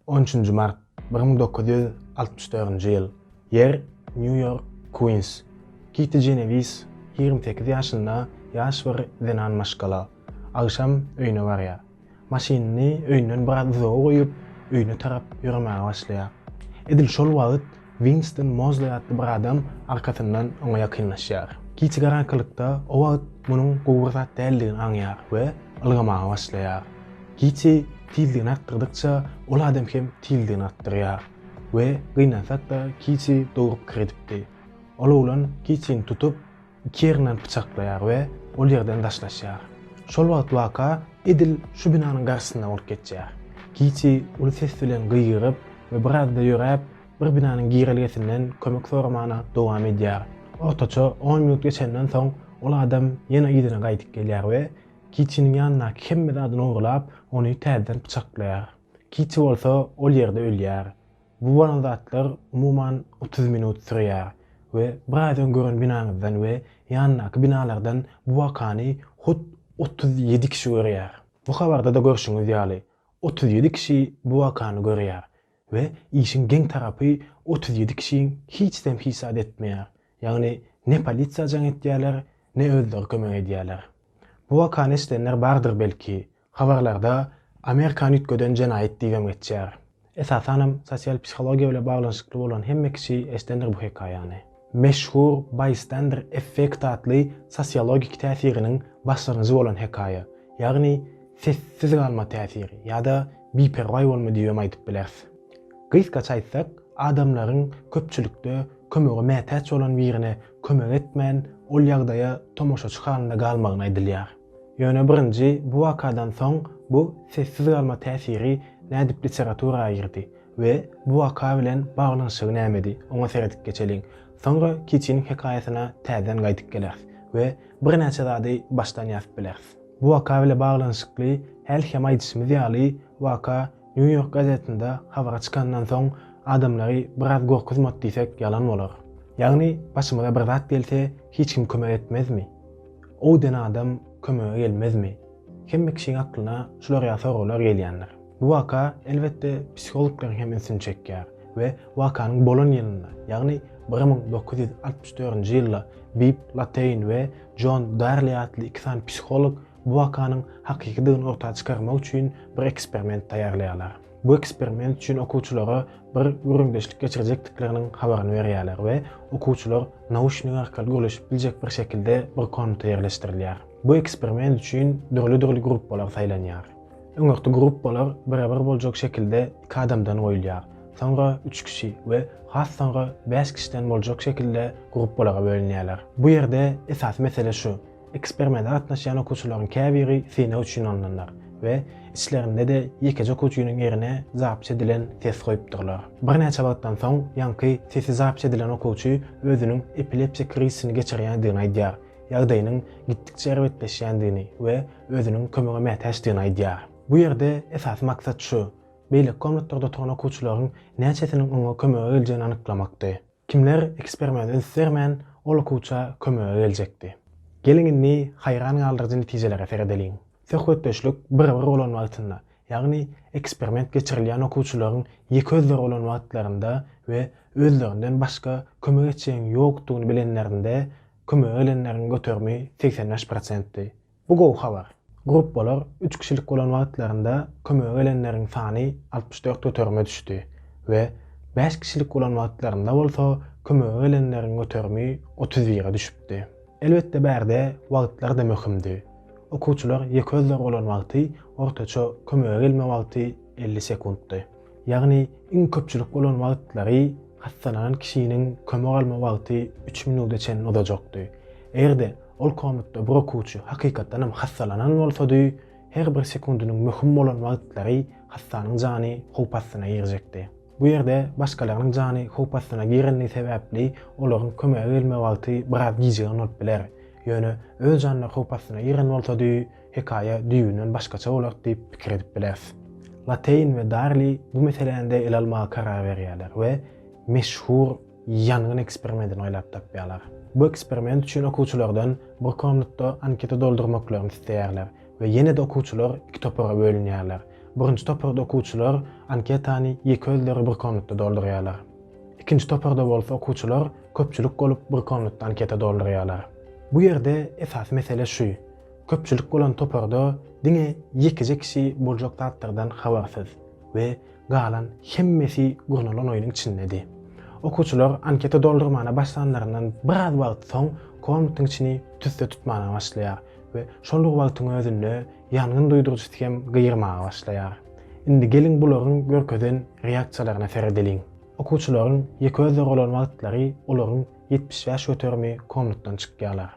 On üçünji mart, bir müň dokuz ýüz altmyş dördünji ýyl, ýer, Nýu-Ýork, Kuýns. Kiti Jenewis ýigrimi sekiz ýaşynda ýaş bir zenan maşgala. Agşam öýüne barýar. Maşynyny öýünden biraz uzaga goýup, öýüne tarap ýöremäge başlaýar. Edil şol wagt Winston Mozley atly bir adam arkasyndan oňa ýakynlaşýar. Kiti garaňkylykda o wagt munuň gowy bir zat däldigini aňýar we ylgamaga başlaýar. Kiti tizligini artdyrdykça, ol adam hem tizligini artdyrýar. We gynansak-da, Kiti dogry pikir edipdi. Ol oglan Kitini tutup, Kernan pyçaklaýar we ol ýerden daşlaşýar. Şol wagt waka edil şu binanyň garşysynda bolup geçýär. Kiti uly ses bilen gygyryp we birazda ýöräp, bir binanyň girelgesinden kömek soramagyna dowam edýär. Ortaça on minut geçenden soň ol adam ýene yzyna gaýdyp gelýär we Kitiniň ýanyndaky hemme zady nogurlap, ony täzeden pyçaklaýar. Kiti bolsa ol ýerde ölýär. Bu bolan zatlar umuman otuz minut sürýär we biraz öň gören binaňyzdan we ýandaky binalardan bu wakany hut otuz ýedi kişi görýär. Bu habarda-da görşüňiz ýaly, otuz ýedi kişi bu wakany görýär we işiň geň tarapy otuz ýedi kişiň hiçzem hiç zat etmeýär, ýagny ne polisiýa jaň etýärler, ne özleri kömek edýärler. Bu wakany eşidenler bardyr belki, Habarlarda Amerikany üýtgeden jenaýat diýibem geçýär. Esasanam sosial psihologiýa bilen baglanyşykly bolan hemme kişi eşdendir bu hekaýany. Meşhur Bystander effekti atly sosiologik täsiriniň başlangyjy bolan hekaýa, ýagny sessiz galma täsiri ýa-da biperwaý bolma diýibem aýdyp bileris. Gysgaça aýtsak, adamlaryň köpçülikde kömege mätäç bolan birine kömek etmän, ol ýagdaýa tomaşaçy halynda galmagyny aýdylýar. Ýöne birinji bu wakadan soň bu sessiz galma täsiri nädip literatura girdi we bu waka bilen baglanyşygy nämedi, oňa seredip geçeliň. Soňra Kiçiniň hekaýasyna täzeden gaýdyp geleris we birnäçe zady başdan ýazyp bileris. Bu waka bile baglanyşykly häli hem aýdyşymyz ýaly, waka New York gazetinde habara çykandan soň adamlary biraz gorkuzmady diýsek ýalan bolar. Ýagny başymyza bir zat gelse hiç kim kömek etmezmi? Ow den adam kömege gelmezmi? Hemme kişiň aklyna şular ýaly soraglar gelýändir. Bu waka, elbetde, psihologlaryň hem ünsüni çekýär we wakanyň bolan ýylynda, ýagny bir müň dokuz ýüz altmyş dördünji ýylda Bib Lateýn we Jon Darli atly iki sany psiholog bu wakanyň hakykydygyny orta çykarmak üçin bir eksperiment taýýarlaýarlar. Bu eksperiment üçin okuwçylara bir gürrüňdeşlik geçirjekdikleriniň habaryny berýärler we okuwçylar nauşnik arkaly gürleşip biljek bir şekilde bir komnata ýerleşdirilýär. Bu eksperiment üçin dürli-dürli gruppalar saýlanýar. Öňürti gruppalar bire-bir boljak şekilde iki adamdan goýulýar, soňra üç kişi we has soňra bäş kişiden boljak şekilde gruppalara bölünýärler. Bu ýerde esasy mesele şu, Eksperimente gatnaşýan okuwçylaryň käbiri synag üçin alnanlar we içlerinde-de ýekeje okuwçynyň ýerine zapis edilen test goýupdyrlar. Birnäçe wagtdan soň ýaňky testi zapis edilen okuwçy özüniň epilepsiýa krizisini geçirýändigini aýdýar, ýagdaýynyň gitdikçe erbetleşýändigini we özüniň kömege mätäçdigini aýdýar. Bu ýerde esasy maksat şu, beýleki komnatlarda oturan okuwçylaryň näçesiniň oňa kömege geljegini anyklamakdy. Kimler ekspermene üns bermän, ol okuwça kömege geljekdi? Geliň indi haýran galdyryjy netijelere seredeliň. Söhbetdeşlik bir-bir bolan wagtynda, ýagny eksperment geçirilýän okuwçylaryň ýeke özleri bolan wagtlarynda we özlerinden başga kömek etjegiň ýokdugyny bilenlerinde kömege gelenleriň göterimi segsen bäş prosentdi. Bu gowy habar. Gruppalar üç kişilik bolan wagtlarynda kömege gelenleriň sany altmyş dört göterime düşdi we bäş kişilik bolan wagtlarynda bolsa kömege gelenleriň göterimi otuz bire düşüpdi. Elbetde bärde wagtlar-da möhümdi. Okuwçylar ýeke özleri bolan wagty ortaça kömege gelme wagty elli sekuntdy. Ýagny iň köpçülik bolan wagtlary hassalanan kişiniň kömek alma wagty üç minuda çenli uzajakdy. Eger-de ol komatda bir okuwçy hakykatdan hem hassalanan bolsady, her bir sekundynyň möhüm bolan wagtlary hassanyň jany howp astyna girjekdi. Bu ýerde başgalarynyň jany howp astyna girendigi sebäpli olaryň kömege gelme wagty biraz gijigen bolup biler. Ýöne öz janlary howp astyna giren bolsady, hekaýa düýbünden başgaça bolar diýip pikir edip bileris. Lateýn we Darli bu meseläni-de ele almaga karar berýärler we meşhur ýangyn eksperimentini oýlap tapýarlar. Bu eksperiment üçin okuwçylardan bir komnatda anketa doldurmaklaryny isleýärler we ýene-de okuwçylar iki topara bölünýärler. Birinji toparda okuwçylar anketany ýeke özleri bir komnatda doldurýarlar. Ikinji toparda bolsa okuwçylar köpçülik bolup bir komnatda anketa doldurýarlar. Bu ýerde esasy mesele şu, Köpçülik bolan toparda diňe ýekeje kişi boljak zatlardan habarsyz we galan hemmesi gurnalan oýnuň içindedi. Okuwçylar anketa doldurmana başlanlaryndan biraz wagt soň komnatiň içini tüsse tutmana başlaýar we şol bir wagtyň özünde ýangyn duýduryjysy hem gyýyrmaga başlaýar. Indi geliň bularyň görkezen reaksiýalaryna seredeliň. Okuwçylaryň ýeke özleri bolan wagtlary olaryň ýetmiş bäş göterimi komnatdan çykýarlar.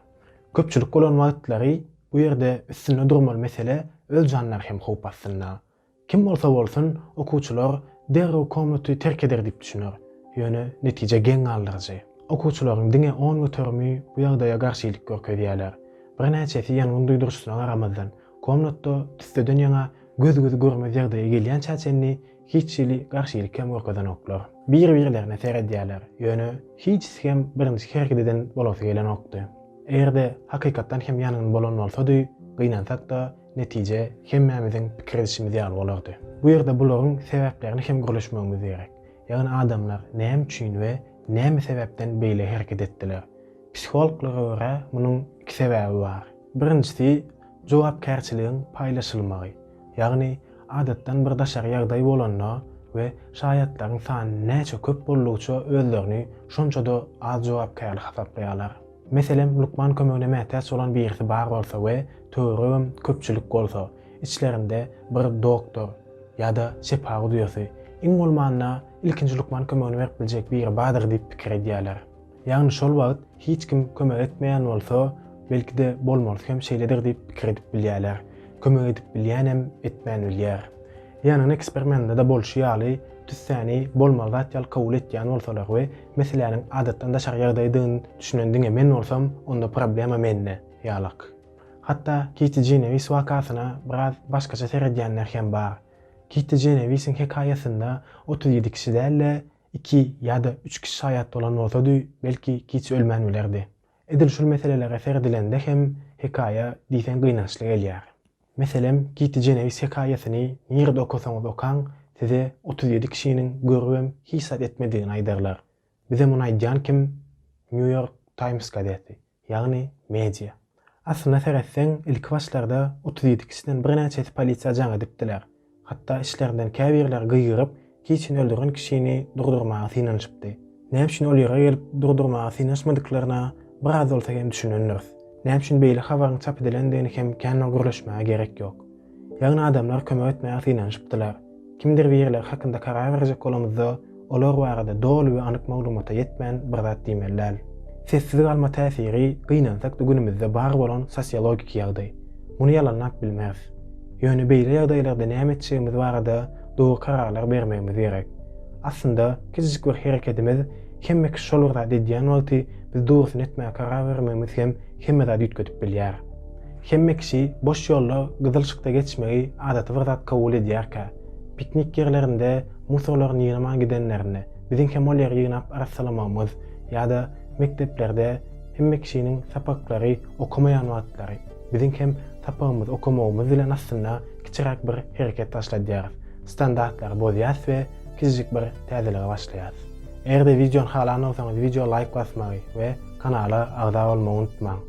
Köpçülik bolan wagtlary bu ýerde üstünde durmaly mesele öz janlary hem howp astynda. Kim bolsa bolsun okuwçylar derrew komnaty terk eder diýip düşüner. Ýöne netije geň galdyryjy. Okuwçylaryň diňe on göterimi bu ýagdaýa garşylyk görkezýärler. Birnäçesi ýangyn duýduryşysyna garamazdan komnatda tüsseden ýaňa göz-gözi görmez ýagdaýa gelýänçä çenli Hiç hili garşylyk hem görkezenoklar. Bir-birlerine seredýärler, ýöne hiç hem birinji hereket eden bolasy gelenokdy. Eger-de hakykatdan hem ýangyn bolan bolsady, gynansak-da, netije hemmämiziň pikir edişimiz ýaly bolardy. Bu ýerde bularyň sebäplerini hem gürleşmegimiz gerek. Ýagny adamlar näme üçin we näme sebäpden beýle hereket etdiler? Psihologlara görä, munuň iki sebäbi bar. Birinjisi, jogapkärçiligiň paýlaşylmagy. Ýagny, adatdan bir daşary ýagdaý bolanda we şaýatlaryň sany näçe köp boldugyça özlerini şonça-da az jogapkärli hasaplaýarlar. Meselem, lukman kömegine mätäç bolan birisi bar bolsa we töweregem köpçülik bolsa, içlerinde bir doktor ýa-da şepa gudyýasy, iň bolmanda, ilkinji lukman kömegini berip biljek biri bardyr diýip pikir edýärler. Ýagny şol wagt hiç kim kömek etmeýän bolsa, belki-de bolmalysy hem şeýledir diýip pikir edip bilýärler. Kömek edip bilýänem etmän bilýär. Ýanyna eksperimendada bolşy ýaly tüssäni bolmaly zat ýaly kabul etýän bolsalar we meseläniň adatdan daşary ýagdaýdygyny düşünen diňe men bolsam, onda problema mende, ýalak. Hatda Kiti Jenewis wakasyna biraz başgaça seredýänler hem bar. Kiti Jenewisiň hekaýasynda otuz ýedi kişi däl-de, Iki ýa-da üç kişi şaýat bolan bolsady, belki, giç ölmän bilerdi. Edil şol meselelere seredilende hem hekaýa diýseň gynançly gelýär. Meselem, Kiti Jeneýs hekaýasyny nirede okasaňyz okaň, size otuz ýedi kişiniň görübem hiç zat etmedigini aýdarlar. Bize muny aýdýan kim? Nýu-Ýork Taýms gazeti. ýagny media. Aslyna seretseň, ilki başlarda otuz ýedi kişiden birnäçesi polisiýa jaň edipdiler. Hatda içlerinden käbirleri gygyryp, kiçini öldüren kişini durdurmaga synanyşypdy. Näme üçin ol ýere gelip durdurmaga synaşmadyklaryna biraz bolsa hem düşünendiris. Näme üçin beýle habaryň çap edilendigini hem kän gürleşmäge gerek ýok. Ýagny adamlar kömek etmäge synanyşypdylar. Kimdir birileri hakynda karar berjek bolamyzda, olar barada doly we anyk maglumata ýetmän bir zat diýmeli däl. Sessiz galma täsiri, gynansak-da günümizde bar bolan sosiologik ýagdaý. Muny ýalanlap bilmeris. Ýöne beýle ýagdaýlarda näme etjegimiz barada dogry kararlar bermegimiz gerek. Aslynda, kiçijik bir herekedimiz, hemme kişi şol bir zat edýän wagty biz dogrusyny etmäge karar bermegimiz hem hemme zady üýtgedip bilýär. Hemme kişi boş ýolda gyzyl yşykda geçmegi adaty bir zat kabul edýärkä, piknik ýerlerinde musorlaryny ýygnaman gidenlerinde biziň hem ol ýeri ýygnap arassalamagymyz ýa-da mekdeplerde hemme kişiniň sapaklary okamaýan wagtlary biziň hem sapagymyzy okamagymyz bilen aslynda kiçiräk bir hereket başladýarys, standartlary bozýas we kiçijik bir täzelige başlaýas. Eger-de wideony halan bolsaňyz wideo laýk basmagy we kanala agza bolmagy unutmaň.